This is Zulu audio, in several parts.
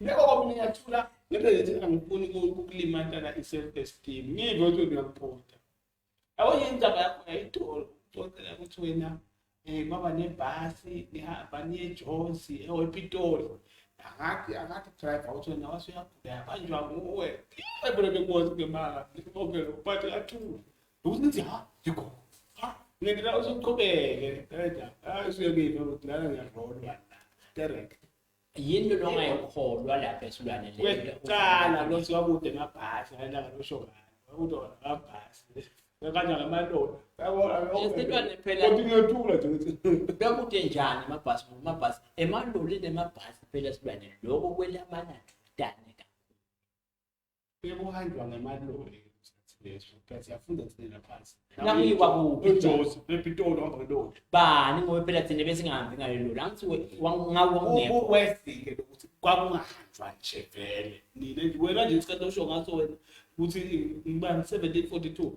Yebo komnye yathula ngeke ngithi angifuni ukukulimatana i-self esteem. Ngive ukuthi uyakuphotha. Yabo yindaba yakho yayitolo uxoxela ukuthi wena eh baba nebhasi nihamba niyejonsi ePitoli. Akathi akathi driver uthi wena wasuyagula yabanjwa nguwe. Ebona bekwazi ngemanga. Ngibonge lo phathi yathula. Ukuthi ha yikho. Ha ngeke la uzoqhubeke. Hayi usuye kimi ukuthi la ngiyadlolwa. Direct. yinto longayikholwa lapha esilwane kwecala lothi wakude emabhasi ayelanga losho ngani wakude wona amabhasi kanye ngamalona esilwane phela kodwa ngiyethula nje ukuthi bekude njani amabhasi amabhasi emaloli nemabhasi phela esilwane lokho kwelamana dane bekuhanjwa ngamaloli bani ngoba phela thina besingahambi ngale loli angithi ngawewesike lokuthi kwakungahanjwa nje vele nina wena nje isikhathi osho ngaso wena ukuthi ngibani 1742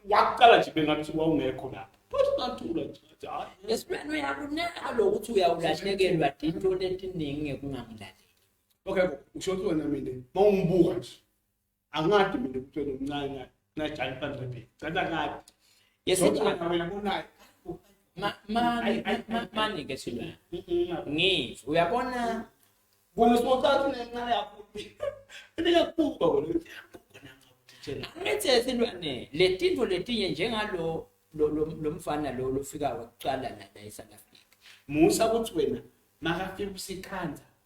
wakuqala nje bengathi wawungekho lapho esibani uyakunaka lokuthi uyawulahlekelwa into lentiningi kungamlaleli okay ngisho ukuthi wena mina uma ungibuka nje angadi mina ukuthi wena umncane ngajali phansi kwebheki cela ngadi yesitshana wena kunayo mani-ke silo ngithi uyabona bona simocathi nencane kakhulu ibingakubuka wena angithi silwane le tinto letinye njengalo lo mfana lo lofika wakuqala nala e-south africa musa ukuthi wena makafika usikhanza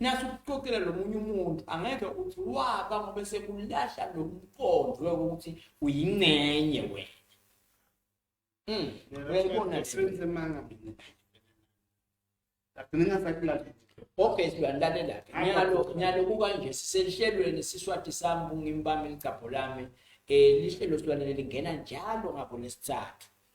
Nasi ukuxoxela lomunye umuntu angeke uthi waba ngoba sekulahla lomqondo ukuthi uyincenye wena. Mm. Uyayibona senze manga mina. Ngagcina ngasakulahla. Okay siyalandela. Nyalo nyalo kukanje siselihlelweni siswati sami kungimbami ligcabho lami. Eh lihlelo silwanele lingena njalo ngabo lesithathu.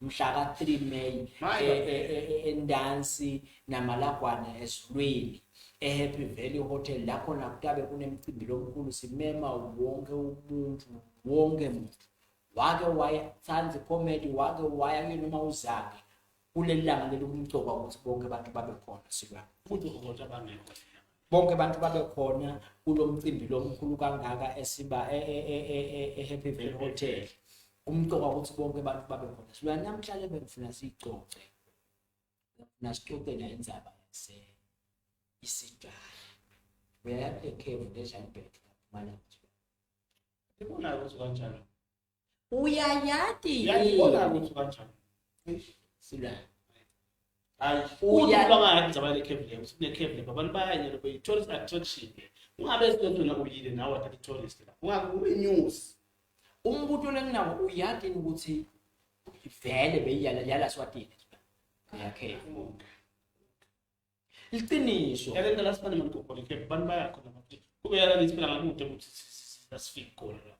mhla ka-3 May My e- e- e- e- eNdansi naMalagwana ezulwini eHappy Valley Hotel la khona kutabe kunemcimbi lomkhulu simema wonke umuntu wonke muntu wake wayathanda icomedy wake waya kuyo noma uzake kuleli langa leli kumcoka ukuthi bonke abantu babe khona silwana futhi uzothi abangekho bonke abantu babe khona kulo mcimbi lo mkhulu kangaka esiba e-happy e, e, e, valley hotel kumqoka ukuthi bonke abantu babe khona sibuya namhlanje bengifuna siyicoce ngifuna sicoce nayo indzaba yase isidala uyaya ekhevu lezanibheke lapho malanje ngibona ukuthi kanjalo uyayati yiyona ukuthi kanjani sila hayi uya baba hayi njaba le cave le usine cave le baba bayanye lo be tourist attraction ungabe esinto na uyile nawe athathe tourist la ungabe ube news umbuto lenginawo uyati ukuthi vele beyiyala yala swatini yakhe Liqiniso. Yake ngicela sifane maligogole ke abantu bayakho nabo ukuthi kube yala lithi phela ngakude ukuthi asifiki khona la.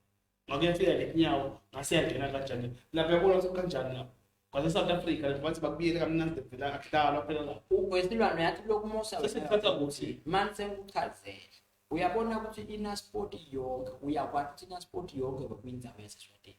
Ngakuyafika ngenyawo ngase yangena kanjani. Lapha yabona ukuthi kanjani lapha. Kwase South Africa lapho bathi bakubiyele kamnandi vela akuhlalwa phela la. Ubesilwane yathi lokhu musa. Sesithatha ukuthi manje sengikuchazele. Uyabona ukuthi ina sport yonke uyakwazi ukuthi ina sport yonke ngokwindawo yaseswatini.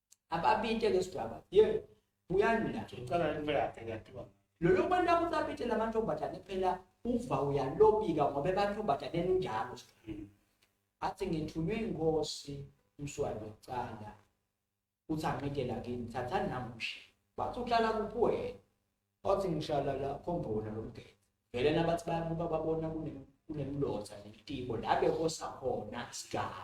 ababite ke sidwaba ye buyani la ngicela into yakhe yakhiwa lolo bantu ababite lamantombazane phela uva uyalobika ngoba ebantombazane enjalo hmm. athi ngithunywe inkosi umswali wokucala uthi anqide la kini thathani namushe bathi uhlala kuphi wena othi ngishala la khombona lomgede vele nabathi bayabuka babona kunemlotha netibo la bekosa khona sigaba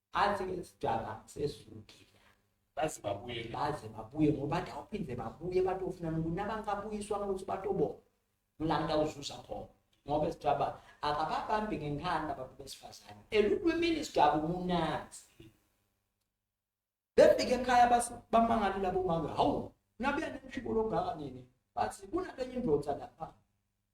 athi ke sidaka sesukile baze babuye baze babuye ngoba awuphinde babuye batofuna nokunabantu abuyiswa ukuthi batobo ngilanda uzuza khona ngoba sidaba akababambi ngenkani abantu besifazane elulwimini sidaba umunanzi befike ekhaya bamangale labo mama hawu nabuya nemshibo longaka nini bathi kunale indoda lapha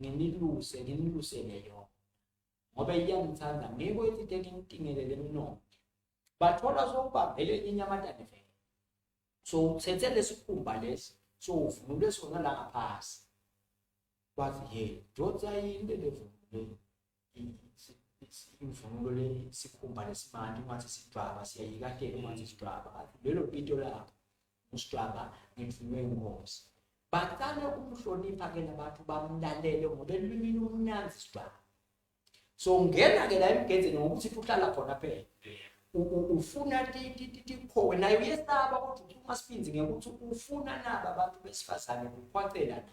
nginiluse nginilusele yona ngoba iyanithanda ngeke ethi ke nginitingelele emnongo bathola sokuba vele inyamatane vele so uthethe lesikhumba lesi so uvunule sona la ngaphasi wathi ye dodza yini levunule imvunulo le sikhumba lesimanje ungathi sidwaba siyayikatela ungathi sidwaba lelo pito lapho usidwaba ngemvunulo yenkosi baqale ukumhlonipha ke labantu bamlalele ngoba elwimini umnanzi sidwaba so ngena ke la emgenzeni ngokuthi uhlala khona phela ufuna tikhowe naye uyesaba kodwa uthi uma siphinzi ngekuthi ufuna nabo abantu besifazane kukhwacela na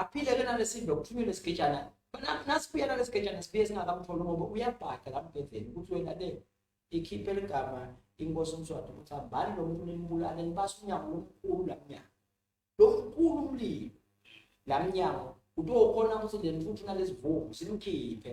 aphile ke nalesidlo kuthunyelwe isigejana nasibuya nalesigejana sibuye singakamtholi ngoba uyabhada la mbhedeni ukuthi wena le ikhiphe ligama inkosi umswati ukuthi hambani lo muntu nimbulale nibasa umnyango lomkhulu la mnyango lo mkhulu umlilo la mnyango utokhona ukuthi le mfuthu nalezivungu simkhiphe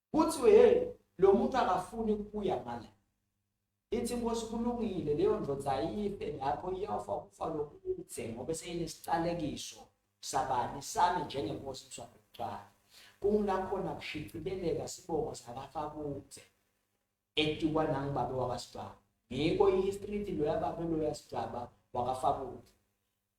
kuthiwe hey lo muntu akafuni kuya ngala ithi inkosi kulungile leyo ndoda ayife lapho iyofa ukufa lokuthe ngoba seyinesicalekiso sabani sami njengenkosi mswakhe kuqala kungilakhona kushicileleka sibongo sakafa kuthe etikwa nangibabe wakasibaba ngiko i-history ithi loya babe loya sibaba wakafakuthe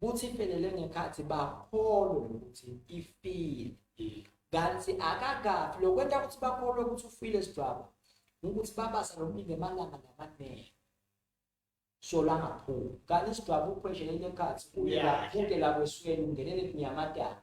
kuthi ifelele ngekhathi bakholwe ukuthi ifile kanti akakafi lokwenta ukuthi bakholwe ukuthi ufile sidwaba ukuthi babasa lomlindi emalanga namanele sola ngaphumi kanti isidwaba uphweshele lekhathi kuye laphuke lakwesweni ungenele kunyamatana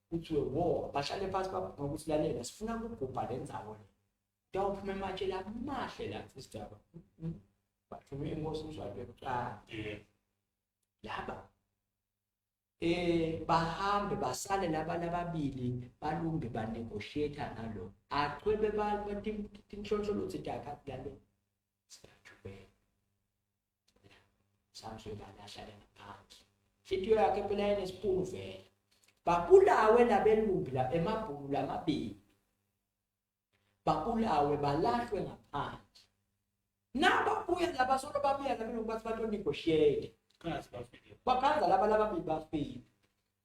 kuthiwe wo bahlale phansi baphume ukuthi lalela sifuna ukugubha le nzawo le kuyawuphuma ematshela amahle la isidaba bathume inkosi umshado yokuqala laba eh bahambe basale laba lababili balunge banegotiate nalo achwebe bathi tinhlonhlolo zidaka lalo Samson ngane ahlale ngaphansi. Inhliziyo yakhe phela inesipunu vele. Babulawe labelumbi la emabhulu lamabili. Babulawe balahlwe ngaphansi. Naba buya laba solo babuya labelumbi bathi bato negotiate. Bakhanza laba laba bibafile.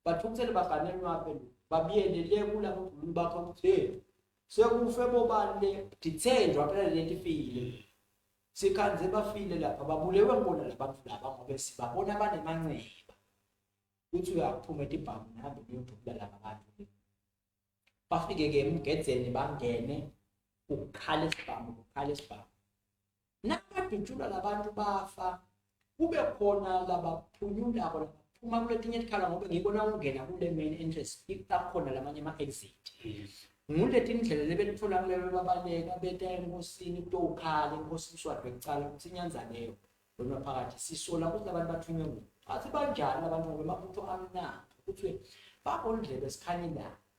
Bathukuthele baganele wabelumbi. Babiyele le kulabo bhulu bakho ukuthi sekufe bobani le dithenjwa phela lento ifile. Sikhanze bafile lapha babulewe ngibona labantu laba ngoba sibabona abanemanxeba. Uthi uyaphuma etibhamu nami ngiyodubula laba bantu. Bafike ke emgedzeni bangene ukukhala isibhamu ukukhala isibhamu. Nakadutshulwa labantu bafa kube khona labaphunyulako labaphuma kuletinye tikhala ngobe ngiko nawungena kule main entrance akhona lamanye ama-exit nguletindlela lebelitfola kulelo babaleka beta enkosini kutowukhala inkosi kuswadwe kucala ukuthi inyanzaneyo lona phakathi sisola ukuthi abantu bathunywe ngubo athi banjani abantu ngoba amabutho amnandi kuthiwe bakondlebe sikhanyilanga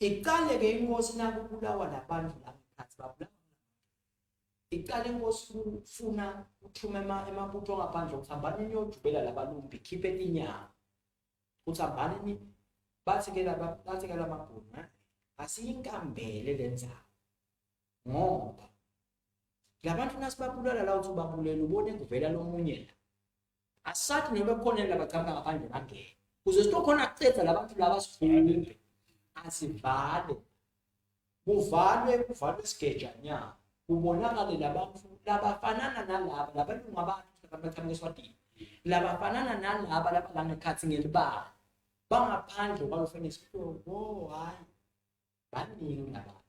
iqale ke inkosi nakubulawa labantu lamkhathi babulawa iqale inkosi kufuna uthuma emabutho angaphandle ukuthi hambani niyojubela labalumbi khiphe inyama ukuthi hambani bathi ke laba bathi ke lamabhunu eh? asiyinkambele lenzawo ngoba labantu nasibabulala la uthi ubabulele ubone kuvela lomunye la asathi noma kukhona elabacabanga ngaphandle bangene kuze sitokhona kucetha labantu laba sifunde asivale kuvalwe kuvalwe isigejanyana kubonakale labantu labafanana nalaba labalungu abantu abacabanga eswatini labafanana nalaba laba la ngekhathi ngelibala bangaphandle kwalofenisipho wo hayi baningi labantu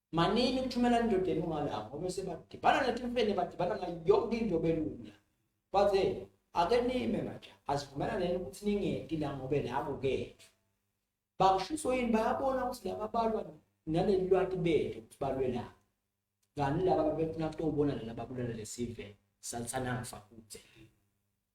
Manini ukuthumela indodeni ungalanga ngoba sebadibana netimfene badibana ngayo yonke into belula. Bathe ake nime manje asivumelane ukuthi ningedi la ngobe la kukethu. Bakushiso yini bayabona ukuthi laba balwa naleli lwati bethu ukuthi balwe la. Ngani laba bebefuna kutobona laba babulala lesive salithana ngifa kude.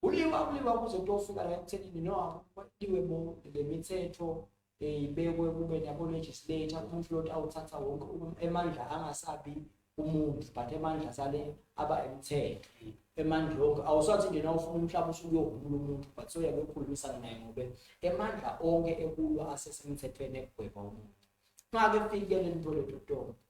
Kuliwa kuliwa kuze kuyofika la ekuthenini no kuliwe bo le mithetho eh, ibekwe kube nabo legislator umuntu lot awuthatha wonke um, emandla angasabi umuntu but emandla sale aba emthetho emandla onke awusathi nje nawufuna umhlaba usuke uyohumula umuntu but soyabe ukhulumisana naye ngobe emandla onke ekulo asesemthethweni ekugweba umuntu ngake fike lento lethu tonke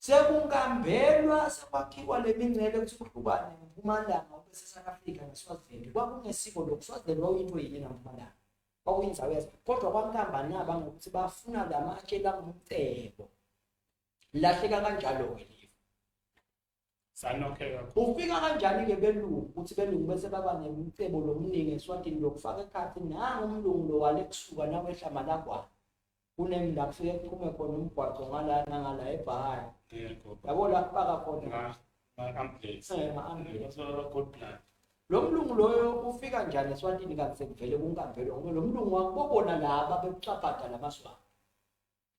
Sekungambelwa sekwakhiwa le mingcele ukuthi kuhlukane ngempumalanga ubese South Africa neSwaziland. Kwakungesiko lokhu Swaziland wawuyinto yini ngampumalanga. Kwakuyinzawo yazo. Kodwa kwankambani aba ngokuthi bafuna la matshe langumcebo. Lahleka kanjalo-ke sanokheka ufika kanjani-ke belungu ukuthi belungu bese baba nemcebo lomningi eswatini lokufaka ekhathi nangu umlungu lo wale kusuka nawehla malakwana kunengi la kufike kuphume khona umgwaqo ngala nangala ebhahari yabo la kubaka khona lo mlungu loyo ufika njani eswatini kanti sekuvele kunkampelo ngoba lo mlungu wakubobona laba bekucabhada la maswati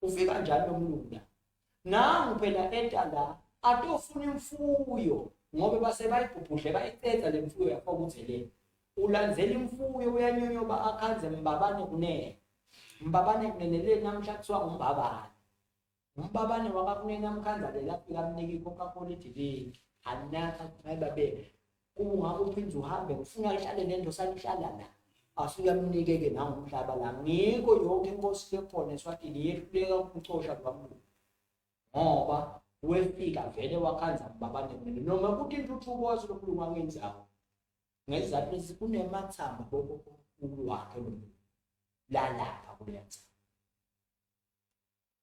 uve kanjani lomlungu la nangu phela enta la atofuna imfuyo ngoba base bayibhubhudle bayiqeda le mfuyo yakho ukuthi le ulandzela imfuyo uyanyonyoba akhanze mbabane kunene mbabane kunene le namhla kuthiwa umbabane umbabane wakakunene amkhanza le lapho ikamnika i-coca-cola idiliki anaka mayibabe Uma ungakho uphinde uhambe ngifuna lihlale nento salihlala la. Asuyamnikeke nawo umhlaba la. Ngikho yonke inkosi lekhona eSwatini yehluleka ukucosha kwamuntu. Ngoba wefika vele wakhanza babane mina noma kuthi intuthuko wasilomlungu angenzawo. Ngezizathu lezi kunemathamba boko wakhe lo. Lalapha kulenza.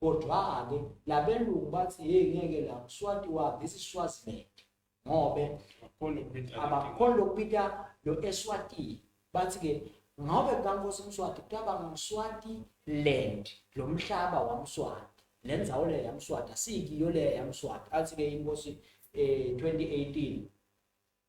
kodwa-ke labelungu bathi yeyi ngeke la mswati wa this is swaziland ngobe abakholwa lokupita lo eswatini bathi-ke ngobe kukankosi mswati kutaba ngumswati land lo mhlaba wamswati le ndzawo leyo yamswati asiyikiyo leyo yamswati athi-ke inkosi um eh, 2018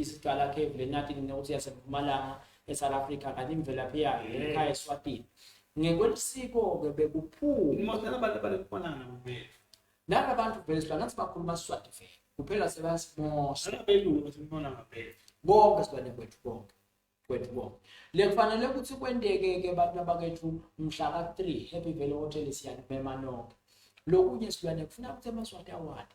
isiqala ke vele nathi nginokuthi yasempumalanga eSouth Africa kanti imvelaphi yayo ekhaya eSwatini ngekwelisiko ke bekuphuma uma sala abantu balekufanana nabo bethu laba bantu vele sibona ngathi bakhuluma isiswati vele kuphela sebasimosa abelungu ukuthi ngibona ngabethu bonke sibane kwethu bonke kwethu bonke le kufanele ukuthi kwenteke ke abantu abakethu mhla ka 3 happy vele hotel siyanibema nonke lokunye silwane kufuna ukuthi amaswati awadi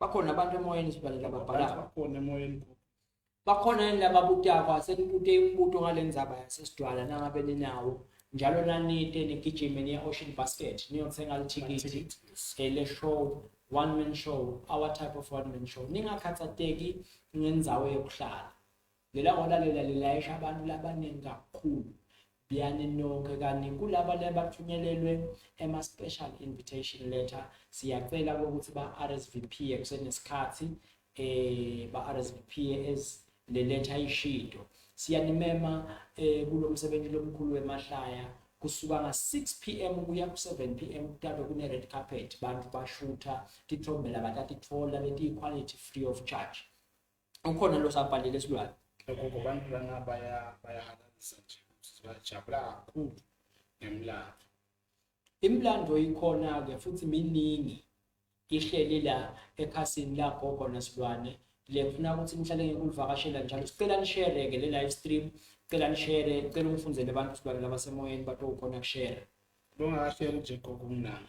bakhona abantu emoyeni sibaleka babhalaka bakhona emoyeni bakhona yini laba butakwa senibute imibuto ngale ndzaba yasesidwala nangabe ninawo njalo nanite nigijime niya ocean basket niyothenga lithikithi eh, le show one man show our type of one man show ningakhathateki ngendzawo yokuhlala Ngelahora lela lilayisha abantu labaningi kakhulu biyani nonke kanti kulaba lebathunyelelwe ema-special invitation letter siyacela ukuthi ba-rsvp kusenesikhathi um eh, ba-rsvp le letha ishido siyanimema um kulo msebenzi lomkhulu wemahlaya kusuka nga-6 p m kuya ku-7 p m kutabe kune-red carpet bantu bashutha tithombe labatatithola letiyi-quality free of charge ukhona lo sabhalile silwane lokho kubantu lana baya bayahalalisa nje sibajabula kakhulu ngemlando imlando ikhona ke futhi miningi ihleli la ekhasini lakho khona silwane le ngifuna ukuthi nihlale ngikulivakashela njalo sicela nishere ke le live stream cela nishere cela ungifundele abantu silwane labasemoyeni bathi ukhona kushare bongakashare nje gogo mnana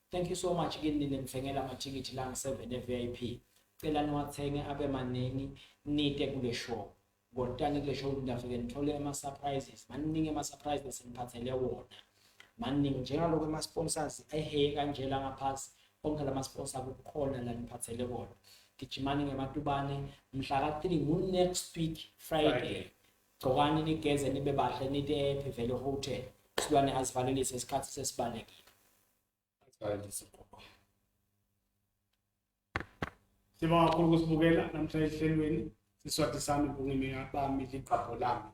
Thank you so much kini ninimthengela amathikithi la ngi-7 e-VIP. Cela niwathenge abe maningi nite kule show. Ngotani kule show ngidafike nithole ama-surprises. Maningi ama-surprise bese niphathele wona. Maningi njengalokho ama-sponsors eheye kanje la ngaphasi. Onke la ma-sponsor kukhona la niphathele wona. Gijimani ngematubane mhla ka-3 ngu-next week Friday. Friday. Gcokani nigeze nibe bahle nite ephi vele hotel. Silwane azivalelise isikhathi sesibalekile. Sibonga kakhulu ukusibukela namhlanje ehlelweni siswati sami kungimina bami ligqabho lami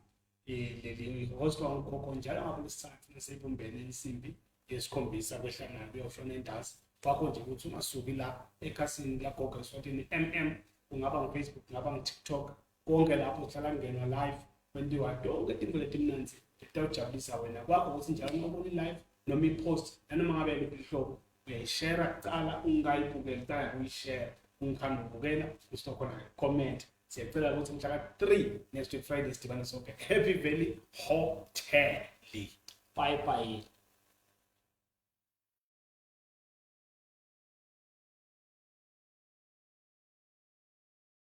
eh, leli host wangukhokho njalo ngakulesithathu nesibumbene insimbi yesikhombisa kwehlangana kuyofuna indazi wakho nje ukuthi ungasuki la ekhasini lagogo eswatini mm kungaba ngufacebook kungaba ngutiktok konke lapho sihlala kungena live kwenziwa tonke tinto letimnanzi letawujabulisa wena kwakho ukuthi njalo uma ubona i-live noma i-post nanoma ngabe liphi lihlobo uyayishera kuqala ungayibukeli kuqala kuyishera ungihamba ubukela usizokhona comment siyacela ukuthi mhla ka-three next week friday sidibane sonke happy valley hotel bye bye